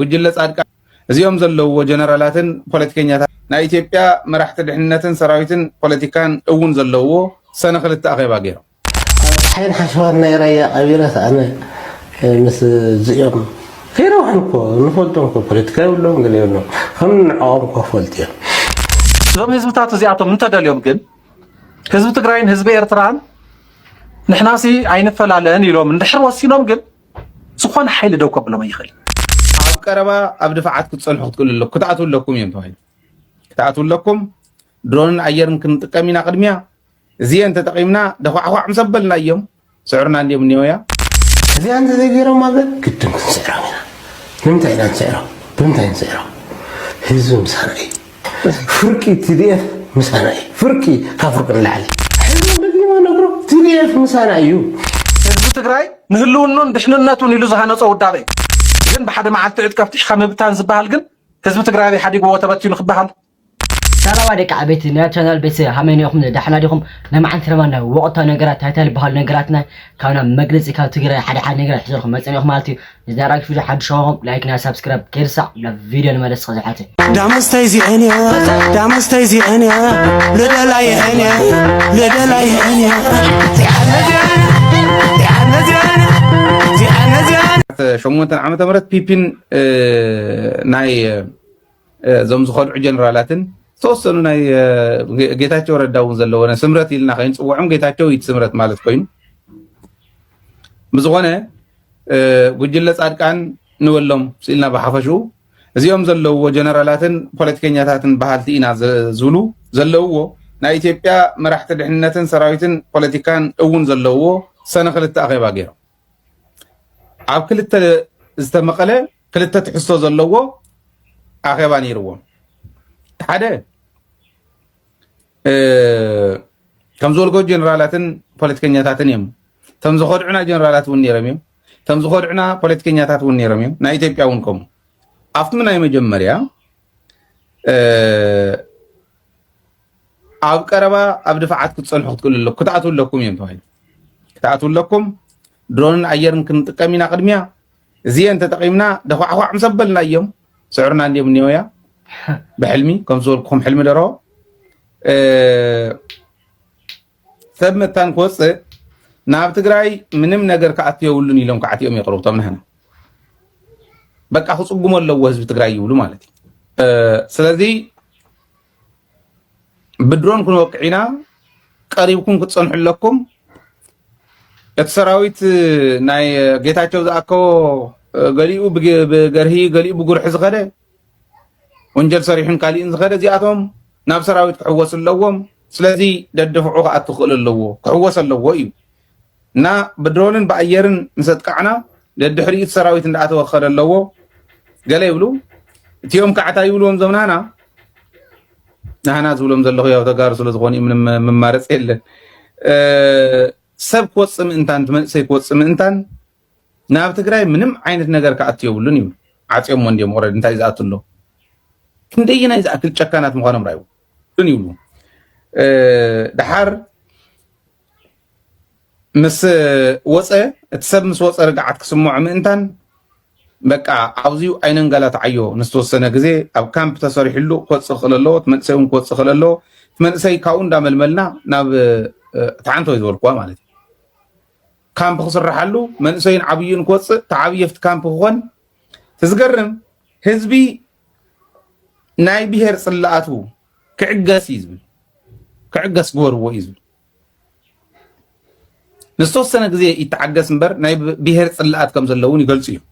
ጉጅለ ፃድቃን እዚኦም ዘለውዎ ጀነራላትን ፖለቲከኛታትን ናይ ኢትዮጵያ መራሕቲ ድሕንነትን ሰራዊትን ፖለቲካን እውን ዘለውዎ ሰነ ክልተ ኣኼባ ገይሮም። ኣብ ፀሓይን ሓሸዋን ናይ ራያ ቀቢረስ ኣነ ምስ ዝኦም ከይረውሐን እኮ ንፈልጦም እኮ ፖለቲካ የብሎም ገለ የብሎም ከም ንዕኦም እኮ ፈልጥ እዮም። እዞም ህዝብታት እዚኣቶም እንተደልዮም ግን ህዝቢ ትግራይን ህዝቢ ኤርትራን ንሕናሲ ኣይንፈላለን ኢሎም እንድሕር ወሲኖም ግን ዝኾነ ሓይሊ ደው ከብሎም ኣይኽእልን። ኣብ ቀረባ ኣብ ድፋዓት ክትፀንሑ ክትክእሉ ኣለኩም ክትኣትው ኣለኩም እዮም ተባሂሉ ክትኣትው ኣለኩም ድሮንን ኣየርን ክንጥቀም ኢና ቅድሚያ እዚአን ተጠቂምና ደኳዕኳዕ ምስ ኣበልና እዮም ስዕርና እንዲዮም እኒኦ እያ እዚኣን ተዘይገይሮም ማለት ግድን ክንስዕሮም ኢና ንምንታይ ኢና ንስዕሮም ብምንታይ ንስዕሮም ህዝቢ ምሳና እዩ ፍርቂ TDF ምሳና እዩ ፍርቂ ካብ ፍርቂ ንላዕሊ ሕዝቢ ደጊመ ነግሮ TDF ምሳና እዩ። ህዝቢ ትግራይ ንህልውኑን ድሕንነቱን ኢሉ ዝሃነፆ ውዳበ እዩ። ግን ብሓደ መዓልቲ ዕጥቂ ኣፍቲሕካ ምብታን ዝበሃል ግን ህዝቢ ትግራይ ኣበይ ሓዲግዎ ተበቲኑ ክበሃል? ሰላማ ደቂ ዓበይቲ ናይ ቻናል ቤተሰብ ሃመይ ኔኹም ዳሕና ዲኹም ናይ መዓልቲ ድማ ናይ ወቕታዊ ነገራት ታይታይ ልበሃሉ ነገራትና ካብ ናብ መግለጺ ካብ ትግራይ ሓደ ሓደ ነገራት ሒዘልኩም መጸ ኔኹ ማለት እዩ እዚ ኣርኣይ ክፍሊ ሓድሽ ኾንኩም ላይክ ናይ ሳብስክራይብ ከይርሳዕ ናብ ቪድዮ ንመለስ እስከ ዝሓተ ዳመስተይ ዚዐን እያ ዳመስተይ ዚዐን እያ ልደላይዐን እያ ልደላይዐን እያ ሸሞንተ ዓመተ ምህረት ፒፒን ናይ እዞም ዝኸድዑ ጀነራላትን ዝተወሰኑ ናይ ጌታቸው ረዳ እውን ዘለዎ ስምረት ኢልና ከይንፅውዖም ጌታቸው ኢት ስምረት ማለት ኮይኑ ብዝኾነ ጉጅለ ፃድቃን ንበሎም ስኢልና ብሓፈሽኡ እዚኦም ዘለውዎ ጀነራላትን ፖለቲከኛታትን በሃልቲ ኢና ዝብሉ ዘለውዎ ናይ ኢትዮጵያ መራሕቲ ድሕንነትን ሰራዊትን ፖለቲካን እውን ዘለውዎ ሰነ ክልተ ኣኼባ ገይሮም ኣብ ክልተ ዝተመቐለ ክልተ ትሕዝቶ ዘለዎ ኣኼባ ነይርዎም ሓደ ከም ዝበልኮ ጀነራላትን ፖለቲከኛታትን እዮም እቶም ዝኸድዑና ጀነራላት እውን ነይሮም እዮም እቶም ዝኸድዑና ፖለቲከኛታት እውን ነይሮም እዮም ናይ ኢትዮጵያ እውን ከምኡ ኣብቲ ናይ መጀመርያ ኣብ ቀረባ ኣብ ድፋዓት ክትፀንሑ ክትክእሉ ኣለኩ ክትኣትው ኣለኩም እዮም ተባሂሉ ክትኣትው ኣለኩም ድሮንን ኣየርን ክንጥቀም ኢና ቅድሚያ እዚኤን ተጠቂምና ደዃዕዃዕ ምስ ኣበልናዮም ስዕርና እንድዮም እኒኦያ ብሕልሚ ከም ዝበልኩኹም ሕልሚ ደሮ ሰብ መታን ክወፅእ ናብ ትግራይ ምንም ነገር ክኣቱ የብሉን ኢሎም ክዓትኦም የቕርቡ እቶም ንሕና በቃ ክፅጉሞ ኣለዎ ህዝቢ ትግራይ ይብሉ ማለት እዩ ስለዚ ብድሮን ክንወቅዕ ኢና ቀሪብኩም ክትፀንሑ ኣለኩም እቲ ሰራዊት ናይ ጌታቸው ዝኣከቦ ገሊኡ ብገርሂ ገሊኡ ብጉርሒ ዝኸደ ወንጀል ሰሪሑን ካሊእን ዝኸደ እዚኣቶም ናብ ሰራዊት ክሕወሱ ኣለዎም ስለዚ ደድፍዑ ክኣቱ ክኽእል ኣለዎ ክሕወስ ኣለዎ እዩ እና ብድሮንን ብኣየርን ምስ ኣጥቃዕና ደድሕሪኡ እቲ ሰራዊት እንዳኣተወ ክኸደ ኣለዎ ገለ ይብሉ እቲኦም ከዓ እንታይ ይብልዎም እዞም ናህና ናህና ዝብሎም ዘለኹ ያው ተጋሩ ስለ ዝኾኑ እዩ ምንም መማረፂ የለን ሰብ ክወፅእ ምእንታን መንእሰይ ክወፅእ ምእንታን ናብ ትግራይ ምንም ዓይነት ነገር ክኣቱ የብሉን ይብሉ ዓፅዮሞ እንዲዮም ኦልሬዲ እንታይ ዝኣቱ ኣሎ ክንደየናይ ዝኣክል ጨካናት ምዃኖም ራእዩ ይብሉ ድሓር ምስ ወፀ እቲ ሰብ ምስ ወፀ ርግዓት ክስምዖ ምእንታን በቃ ኣብዚዩ ኣይነንገላትዓዮ ንዝተወሰነ ግዜ ኣብ ካምፕ ተሰሪሕሉ ክወፅእ ክኽእል ኣለዎ እቲ መንእሰይ እውን ክወፅእ ክኽእል ኣለዎ እቲ መንእሰይ ካብኡ እንዳመልመልና ናብ ተዓንቶ እዩ ዝበልኩዋ ማለት እዩ ካምፕ ክስራሓሉ መንእሰይን ዓብዩን ክወፅእ ተዓብየ ኣብቲ ካምፕ ክኾን እቲ ዝገርም ህዝቢ ናይ ብሄር ፅላኣቱ ክዕገስ እዩ ዝብል ክዕገስ ግበርዎ እዩ ዝብል ንዝተወሰነ ግዜ ይተዓገስ እምበር ናይ ብሄር ፅላኣት ከም ዘሎ እውን ይገልፁ እዮም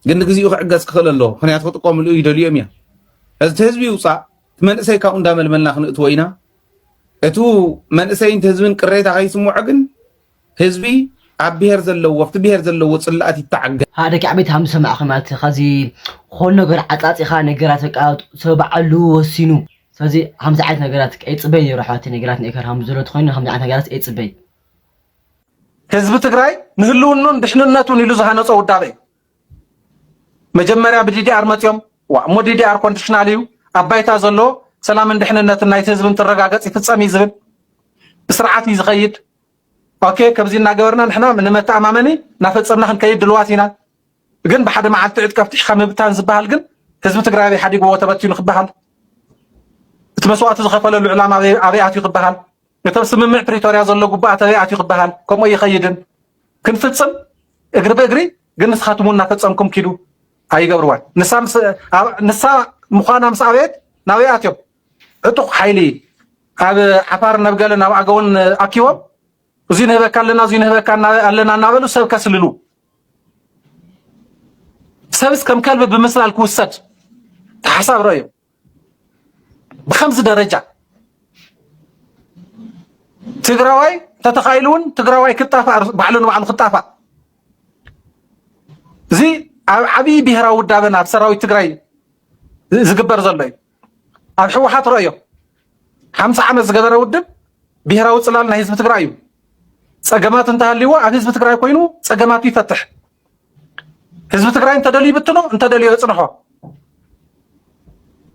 ግን ንግዚኡ ክዕገስ ክኽእል ኣሎ ምክንያቱ ክጥቀምሉ ይደልዮም እዮም እዚ ህዝቢ ይውፃእ እቲ መንእሰይ ካብኡ እንዳመልመልና ክንእትዎ ኢና እቲ መንእሰይን ህዝብን ቅሬታ ከይስምዖ ግን ህዝቢ ኣብ ብሄር ዘለዎ ኣብቲ ብሄር ዘለዎ ጽላኣት ይታዓገ። ሃእ ደቂ ዓበይቲ ሃም ዝሰማዕኺ ማለት ኻዚ ኾን ነገር ዓጻጺኻ ነገራት በቃ ሰብ ባዓሉ ወሲኑ ስለዚ ሃምዚ ዓይነት ነገራት ኣይጽበይ ነይሩ ኣሕዋተይ ነገራት ኔከር ሃም ዘሎ ተኾይኑ ሃምዚ ዓይነት ነገራት ኣይጽበይ ህዝቢ ትግራይ ንህልውኑን ድሕንነቱን ኢሉ ዝሃነፆ ውዳበ እዩ። መጀመርያ ብዲዲኣር መፅዮም ዋ እሞ ዲዲኣር ኮንዲሽናል እዩ ኣብ ባይታ ዘሎ ሰላምን ድሕንነትን ናይቲ ህዝቢ እንትረጋገፅ ይፍፀም እዩ ዝብል ብስርዓት እዩ ዝኸይድ። ኦኬ ከምዚ እናገበርና ንሕና ንመተኣማመኒ እናፈፀምና ክንከይድ ድልዋት ኢና ግን ብሓደ መዓልቲ ዕጥቂ ኣፍቲሕካ ምብታን ዝበሃል ግን ህዝቢ ትግራይ ኣበይ ሓዲግዎ ተበቲኑ ክበሃል እቲ መስዋእቲ ዝኸፈለሉ ዕላማ ኣበይ ኣትዩ ክበሃል እቶም ስምምዕ ፕሪቶርያ ዘሎ ጉባኣት ኣበይ ኣትዩ ክበሃል ከምኡ ይኸይድን ክንፍፅም እግሪ ብእግሪ ግን ንስኻትም እውን እናፈፀምኩም ኪዱ ኣይገብርዋን ንሳ ምዃና ምስ ኣበየት ናበይ ኣትዮም ዕጡቕ ሓይሊ ኣብ ዓፋርን ኣብ ገለን ኣብ ኣገውን ኣኪቦም እዙይ ንህበካ ኣለና እዙይ ንህበካ ኣለና እናበሉ ሰብ ከስልሉ ሰብስ ከም ከልቢ ብምስላል ክውሰድ ተሓሳብ ረዮ ብከምዚ ደረጃ ትግራዋይ ተተኻኢሉ እውን ትግራዋይ ክጣፋእ ባዕሉ ንባዕሉ ክጣፋእ እዚ ኣብ ዓብዪ ብሄራዊ ውዳበና ኣብ ሰራዊት ትግራይ ዝግበር ዘሎ እዩ ኣብ ሕወሓት ረእዮ ሓምሳ ዓመት ዝገበረ ውድብ ብሄራዊ ፅላል ናይ ህዝቢ ትግራይ እዩ። ፀገማት እንተሃልይዎ ኣብ ህዝቢ ትግራይ ኮይኑ ፀገማቱ ይፈትሕ። ህዝቢ ትግራይ እንተደልዩ ይብትኖ፣ እንተደልዮ የፅንሖ።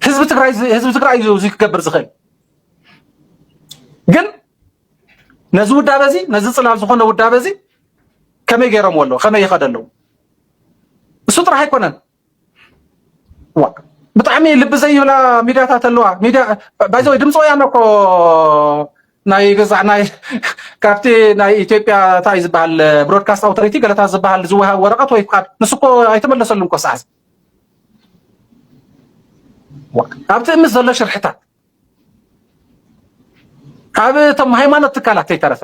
ህዝቢ ትግራይ ህዝቢ ትግራይ እዩ እዚ ክገብር ዝኽእል። ግን ነዚ ውዳበ እዚ ነዚ ፅላል ዝኾነ ውዳበ እዚ ከመይ ገይሮምዎ ኣለዉ? ከመይ ይኸደ ኣለዉ? እሱ ጥራሕ ኣይኮነን ብጣዕሚ ልቢ ዘይብላ ሚድያታት ኣለዋ ሚድያ ባይዘ ወይ ድምፂ ወያነ እኮ ናይ ገዛዕ ናይ ካብቲ ናይ ኢትዮጵያ እንታይ ዝበሃል ብሮድካስት ኣውቶሪቲ ገለታት ዝበሃል ዝወሃብ ወረቐት ወይ ፍቃድ ንሱ እኮ ኣይተመለሰሉን እኮ ሰዓት ኣብቲ ምስ ዘሎ ሽርሕታት ካብ እቶም ሃይማኖት ትካላት ከይተረፈ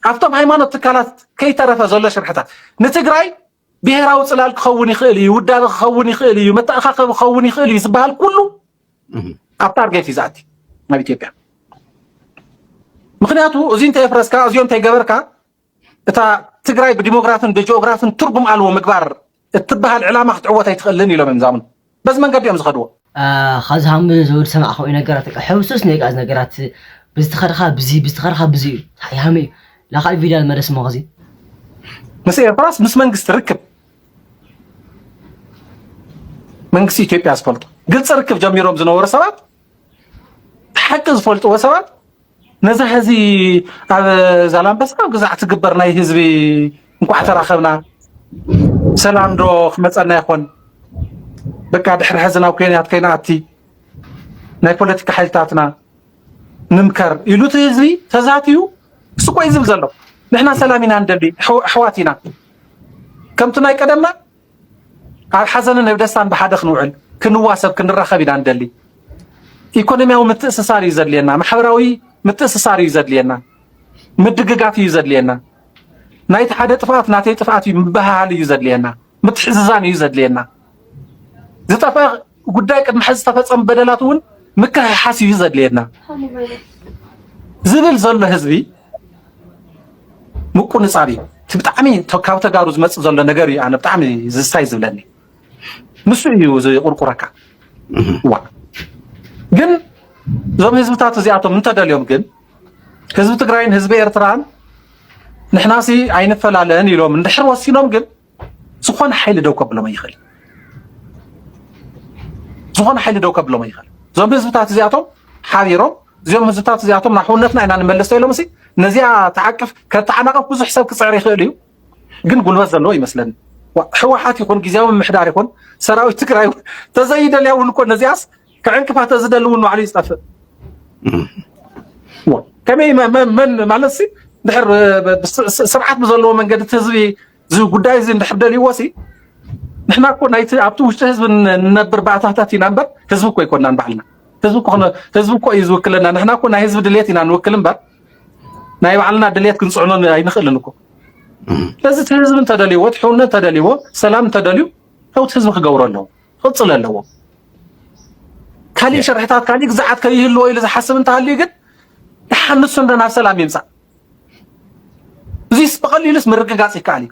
ኣብቶም ሃይማኖት ትካላት ከይተረፈ ዘሎ ሽርሕታት ንትግራይ ብሄራዊ ፅላል ክኸውን ይኽእል እዩ፣ ውዳበ ክኸውን ይኽእል እዩ፣ መተኣኻኸቢ ክኸውን ይኽእል እዩ ዝበሃል ኩሉ ኣብ ታርጌት እዩ ዝኣቲ ናብ ኢትዮጵያ። ምክንያቱ እዚ እንተየፍረስካ እዚኦ እንተይገበርካ እታ ትግራይ ብዲሞግራፍን ብጂኦግራፍን ትርጉም ኣልዎ ምግባር እትበሃል ዕላማ ክትዕወት ኣይትኽእልን ኢሎም እዮም ዛምኑ። በዚ መንገዲ እዮም ዝኸድዎ። ካብዚ ሃምብል ዝብል ዝሰማዕካኦ ነገራት በቃ ሕውስውስ ንበቃ እዚ ነገራት ብዚ ተኸድኻ ብዚ ብዚ ተኸድኻ ብዚ እዩ ታይ ሃመ እዩ ላኻል ቪድያ ንመለስ እሞ ከዚ ምስ ኤርትራስ ምስ መንግስቲ ርክብ መንግስቲ ኢትዮጵያ ዝፈልጦ ግልፂ ርክብ ጀሚሮም ዝነበሩ ሰባት ሓቂ ዝፈልጥዎ ሰባት ነዛ ሐዚ ኣብ ዛላምበሳ ኣብ ገዛዕ ትግበር ናይ ህዝቢ እንኳዕ ተራኸብና ሰላም ዶ ክመፀና ይኾን? በቃ ድሕሪ ሐዚ ናብ ኮንያት ከይንኣቲ ናይ ፖለቲካ ሓይልታትና ንምከር ኢሉ እቲ ህዝቢ ተዛትዩ ስቆይ ዝብል ዘሎ ንሕና ሰላም ኢና ንደሊ ኣሕዋት ኢና ከምቲ ናይ ቀደምና ኣብ ሓዘንን ኣብ ደስታን ብሓደ ክንውዕል፣ ክንዋሰብ፣ ክንራኸብ ኢና ንደሊ። ኢኮኖሚያዊ ምትእስሳር እዩ ዘድልየና፣ ማሕበራዊ ምትእስሳር እዩ ዘድልየና፣ ምድግጋፍ እዩ ዘድልየና። ናይቲ ሓደ ጥፍኣት ናተይ ጥፍኣት እዩ ምብህሃል እዩ ዘድልየና፣ ምትሕዝዛን እዩ ዘድልየና። ዝጠፍአ ጉዳይ ቅድሚ ሕዚ ዝተፈጸሙ በደላት እውን ምክሕሓስ እዩ ዘድልየና ዝብል ዘሎ ህዝቢ ምቁንጻብ እዩ እቲ ብጣዕሚ ካብ ተጋሩ ዝመጽእ ዘሎ ነገር እዩ ኣነ ብጣዕሚ ዝስታይ ዝብለኒ ንሱ እዩ ዝቁርቁረካ ዋ ግን እዞም ህዝብታት እዚኣቶም እንተደልዮም ግን ህዝቢ ትግራይን ህዝቢ ኤርትራን ንሕናሲ ኣይንፈላለን ኢሎም እንድሕር ወሲኖም ግን ዝኾነ ሓይሊ ደው ከብሎም ኣይኽእል ዝኾነ ሓይሊ ደው ከብሎም ኣይኽእል እዞም ህዝብታት እዚኣቶም ሓቢሮም እዚኦም ህዝብታት እዚኣቶም ናብ ሕውነትና ኢና ንመለስ ተኢሎም ሲ ነዚኣ ተዓቅፍ ከተዓናቕፍ ብዙሕ ሰብ ክፅዕር ይኽእል እዩ ግን ጉልበት ዘለዎ ይመስለኒ ሕወሓት ይኹን ግዜያዊ ምሕዳር ይኹን ሰራዊት ትግራይ ተዘይደልያ እውን እኮ ነዚኣስ ክዕንቅፋ ተዝደሊ እውን ባዕሉ ይጠፍእ ከመይ መን ማለት ሲ ድሕር ስርዓት ብዘለዎ መንገዲ እቲ ህዝቢ እዚ ጉዳይ እዚ እንድሕር ደልይዎ ሲ ንሕና እኮ ናይቲ ኣብቲ ውሽጢ ህዝቢ ንነብር ባእታታት ኢና እምበር ህዝቢ እኮ ኣይኮናን ባዕልና ህዝቢ ኮነ ህዝቢ እኮ እዩ ዝውክለና ንሕና እኮ ናይ ህዝቢ ድሌት ኢና ንውክል እምበር ናይ ባዕልና ድሌት ክንፅዕኖ ኣይንኽእልን እኮ ስለዚ እቲ ህዝቢ እንተደልይዎ እቲ ሕውነት እንተደልይዎ ሰላም እንተደልዩ ለውቲ ህዝቢ ክገብሮ ኣለዎ ክቕፅል ኣለዎ። ካሊእ ሸርሕታት ካሊእ ግዛዓት ከይህልዎ ኢሉ ዝሓስብ እንተሃልዩ ግን ተሓንሱ እንደ ናብ ሰላም ይምፃእ። እዚስ ብቐሊሉስ ምርግጋፅ ይከኣል እዩ።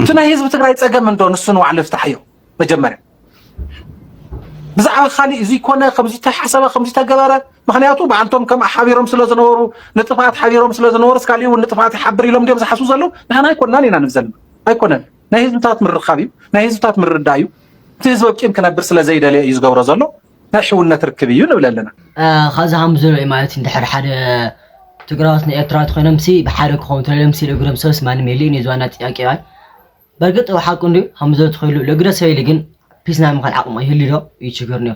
እቲ ናይ ህዝቢ ትግራይ ፀገም እንዶ ንሱ ንባዕሉ ይፍታሕዮ መጀመርያ ብዛዕባ ካሊእ እዚ ኮነ ከምዚ ተሓሰበ ከምዚ ተገበረ ምክንያቱ ብኣንቶም ከም ሓቢሮም ስለ ዝነበሩ ንጥፍኣት ሓቢሮም ስለ ዝነበሩ እስካሊእ እውን ንጥፍኣት ይሓብር ኢሎም ድዮም ዝሓስቡ ዘለዉ ንሕና ኣይኮናን ኢና ንብዘልና ኣይኮነን ናይ ህዝብታት ምርኻብ እዩ፣ ናይ ህዝብታት ምርዳእ እዩ። እቲ ህዝቢ ወቂም ክነብር ስለ ዘይደለየ እዩ ዝገብሮ ዘሎ፣ ናይ ሕውነት ርክብ እዩ ንብል ኣለና። ካብዚ ከም ዝርእ ማለት እንድሕር ሓደ ትግራዎት ንኤርትራዎት ኮይኖም ሲ ብሓደ ክኾኑ ተለሎም ሲ ለግዶም ሰብስ ማንም የለ እዩ ዝዋና ጥያቄ ባይ በርግጥ ሓቁ እንድዩ ከም ዝርእ ትኽሉ ለግደ ሰብ የለ ግን ፒስ ናይ ምዃን ዓቕሙ ይህልዩ ዶ እዩ ችግር እንድዮ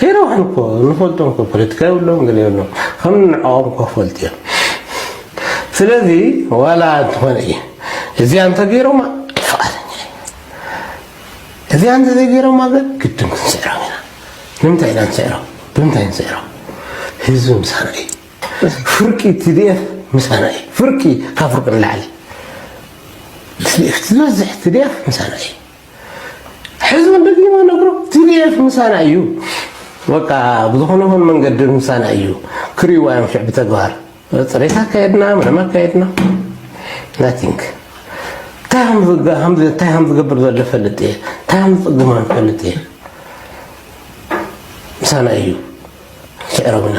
ከይረብሑ እኮ ንፈልጦም እኮ ፖለቲካ የብሎም ገለ የብሎም ከም ንዕኦም እኮ ክፈልጡ እዮም ስለዚ ዋላ እንትኾነ እዩ እዚኣ እንተገይሮማ ፍቓደኛ እዚኣ እንተዘይገይሮማ ግን ግድን ክንስዕሮም ኢና ንምንታይ ኢና ንስዕሮም ብምንታይ ንስዕሮም ህዝቢ ምሳና እዩ ፍርቂ ትድኤፍ ምሳና እዩ ፍርቂ ካብ ፍርቂ ንላዕሊ ትድኤፍ ዝበዝሕ ትድኤፍ ምሳና እዩ ሕዝውን ደግማ ነግሮ ቲዲኤፍ ምሳና እዩ በቃ ብዝኾነ ኹን መንገዲ ምሳና እዩ ክሪእዋ እዮም ሽዕ ብተግባር ፅሬት ኣካየድና ምንም ኣካየድና ናቲንግ እንታይ ከም ዝገብር ዘሎ ፈልጥ እየ እንታይ ከም ዝፅግማ ፈልጥ እየ ምሳና እዩ ሽዕረብና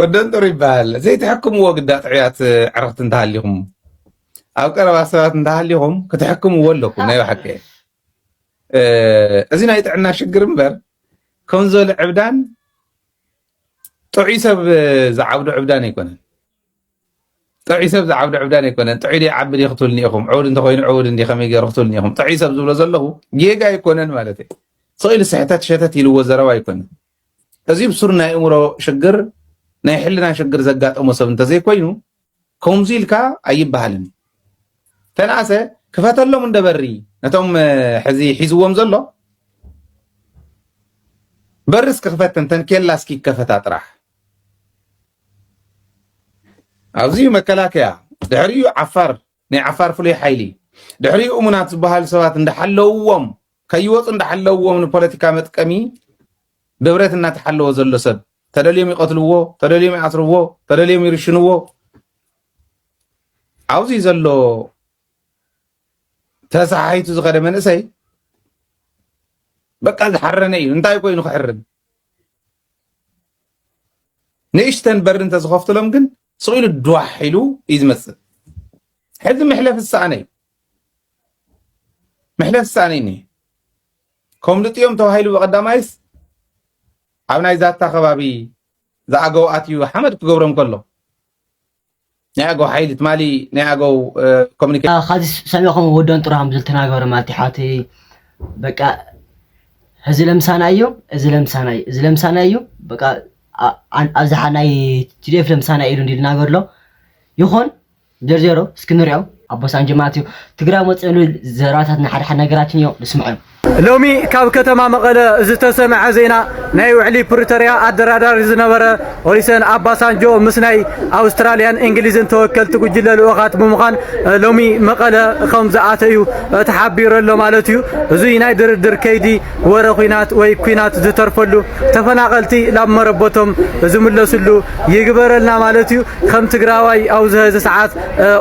ወደንጦር ይበሃል ዘይትሕክምዎ ግዳ ጥዕያት ዕረኽቲ እንተሃሊኹም ኣብ ቀረባ ሰባት እንተሃሊኹም ክትሕክምዎ ኣለኩም ናይ ባሓቂ እዚ ናይ ጥዕና ሽግር እምበር ከምዞ ዕብዳን ጥዑይ ሰብ ዝዓብዶ ዕብዳን ኣይኮነን ጥዑይ ሰብ ዝዓብዶ ዕብዳን ኣይኮነን ጥዑይ ዶ ይዓቢ ዶ ክትብልኒ ኢኹም ዕውድ እንተኮይኑ ዕውድ እንዲ ከመይ ገይሩ ክትብልኒ ኢኹም ጥዑይ ሰብ ዝብሎ ዘለኹ ጌጋ ኣይኮነን ማለት እዩ ስኢሉ ስሕተት ሸተት ኢልዎ ዘረባ ኣይኮነን እዚ ብሱር ናይ እእምሮ ሽግር ናይ ሕልና ሽግር ዘጋጠሞ ሰብ እንተዘይኮይኑ ከምዚ ኢልካ ኣይበሃልን እዩ ተነኣሰ ክፈተሎም እንደበሪ ነቶም ሕዚ ሒዝዎም ዘሎ በርስ ክኽፈተን ተንኬላ እስኪ ይከፈታ ጥራሕ ኣብዚ መከላከያ ድሕሪኡ ዓፋር ናይ ዓፋር ፍሉይ ሓይሊ ድሕሪኡ እሙናት ዝበሃሉ ሰባት እንዳሓለውዎም ከይወፁ እንዳሓለውዎም ንፖለቲካ መጥቀሚ ብብረት እናተሓለወ ዘሎ ሰብ ተደልዮም ይቐትልዎ፣ ተደልዮም ይኣስርዎ፣ ተደልዮም ይርሽንዎ። ኣብዚ ዘሎ ተሰሓሒቱ ዝኸደ መንእሰይ በቃ ዝሓረነ እዩ። እንታይ ኮይኑ ክሕርን ንእሽተን በሪ እንተዝኸፍትሎም ግን ስቕ ኢሉ ዷሕ ኢሉ እዩ ዝመፅእ ሕዚ መሕለፊ ዝሰኣነ እዩ መሕለፊ ዝሰኣነ እዩ ከምልጡ እዮም ተባሂሉ ብቐዳማይስ ኣብ ናይ ዛታ ከባቢ ዝኣገው ኣትዩ ሓመድ ክገብሮም ከሎ ናይ ኣገው ሓይሊ ትማሊ ናይ ኣገው ኮሚኒኬሽን ካዚ ሰሚዕኹም ወዶን ጥሩ ከም ዝተናገሩ ማለት እዩ ሓቲ በቃ እዚ ለምሳና እዩ እዚ ለምሳና እዩ እዚ ለምሳና እዩ በቃ ኣብዝሓ ናይ ቲዲኤፍ ለምሳና ኢሉ እንዲ ዝናገር ኣሎ ይኹን ጀርጀሮ እስኪ ንሪኦ ኣቦሳን ጀማት እዩ ትግራይ መፅእሉ ዘረባታት ንሓደ ሓደ ነገራትን እዮም ንስምዖም ሎሚ ካብ ከተማ መቐለ ዝተሰምዐ ዜና ናይ ውዕሊ ፕሪቶርያ ኣደራዳሪ ዝነበረ ኦሊሰን ኣባሳንጆ ምስ ናይ ኣውስትራልያን እንግሊዝን ተወከልቲ ጉጅለ ልኡኻት ብምዃን ሎሚ መቐለ ከም ዝኣተ እዩ ተሓቢሩ ኣሎ ማለት እዩ። እዙይ ናይ ድርድር ከይዲ ወረ ኩናት ወይ ኩናት ዝተርፈሉ ተፈናቐልቲ ናብ መረበቶም ዝምለስሉ ይግበረልና ማለት እዩ። ከም ትግራዋይ ኣብዚ ሀዚ ሰዓት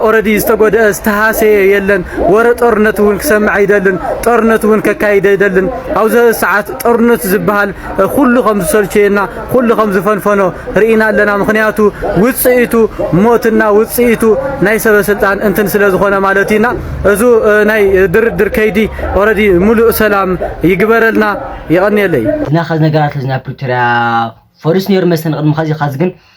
ኦረዲ ዝተጎደአ ዝተሃሰየ የለን። ወረ ጦርነት እውን ክሰምዕ ኣይደልን። ጦርነት እውን ከካይድ ኣይደልን። ኣብዚ ሀዚ ሰዓት ጦርነት ዝበሃል ኩሉ ከም ዝሰልቸየና ኩሉ ከም ዝፈንፈኖ ርኢና ኣለና። ምክንያቱ ውፅኢቱ ሞትና ውፅኢቱ ናይ ሰበ ስልጣን እንትን ስለ ዝኾነ ማለት እዩና እዙ ናይ ድርድር ከይዲ ኦረዲ ሙሉእ ሰላም ይግበረልና። የቐንየለይ እና ከዚ ነገራት እዚ ናይ ፕሪቶሪያ ፈሪሱ ነይሩ መሰለኒ ቅድሚ ከዚ ከዚ ግን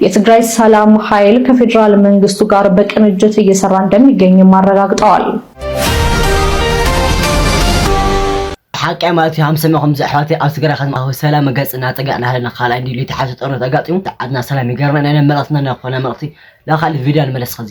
የትግራይ ሰላም ኃይል ከፌዴራል መንግስቱ ጋር በቅንጅት እየሰራ እንደሚገኝም አረጋግጠዋል። ብሓቂ ማለት እዩ ሃምሰመ ከምዚ ኣሕዋተይ ኣብ ትግራይ ከተማዊ ሰላም ገፅ እናጠገዕ ናሃለና ካልኣይ እንዲ ልዩ ተሓሰ ጦርነት ኣጋጢሙ ዓድና ሰላም ይገርና ናይ መልእኽትና ናይ ኮና መልእኽቲ ላካል ቪድያ ንመለስ ኸዚ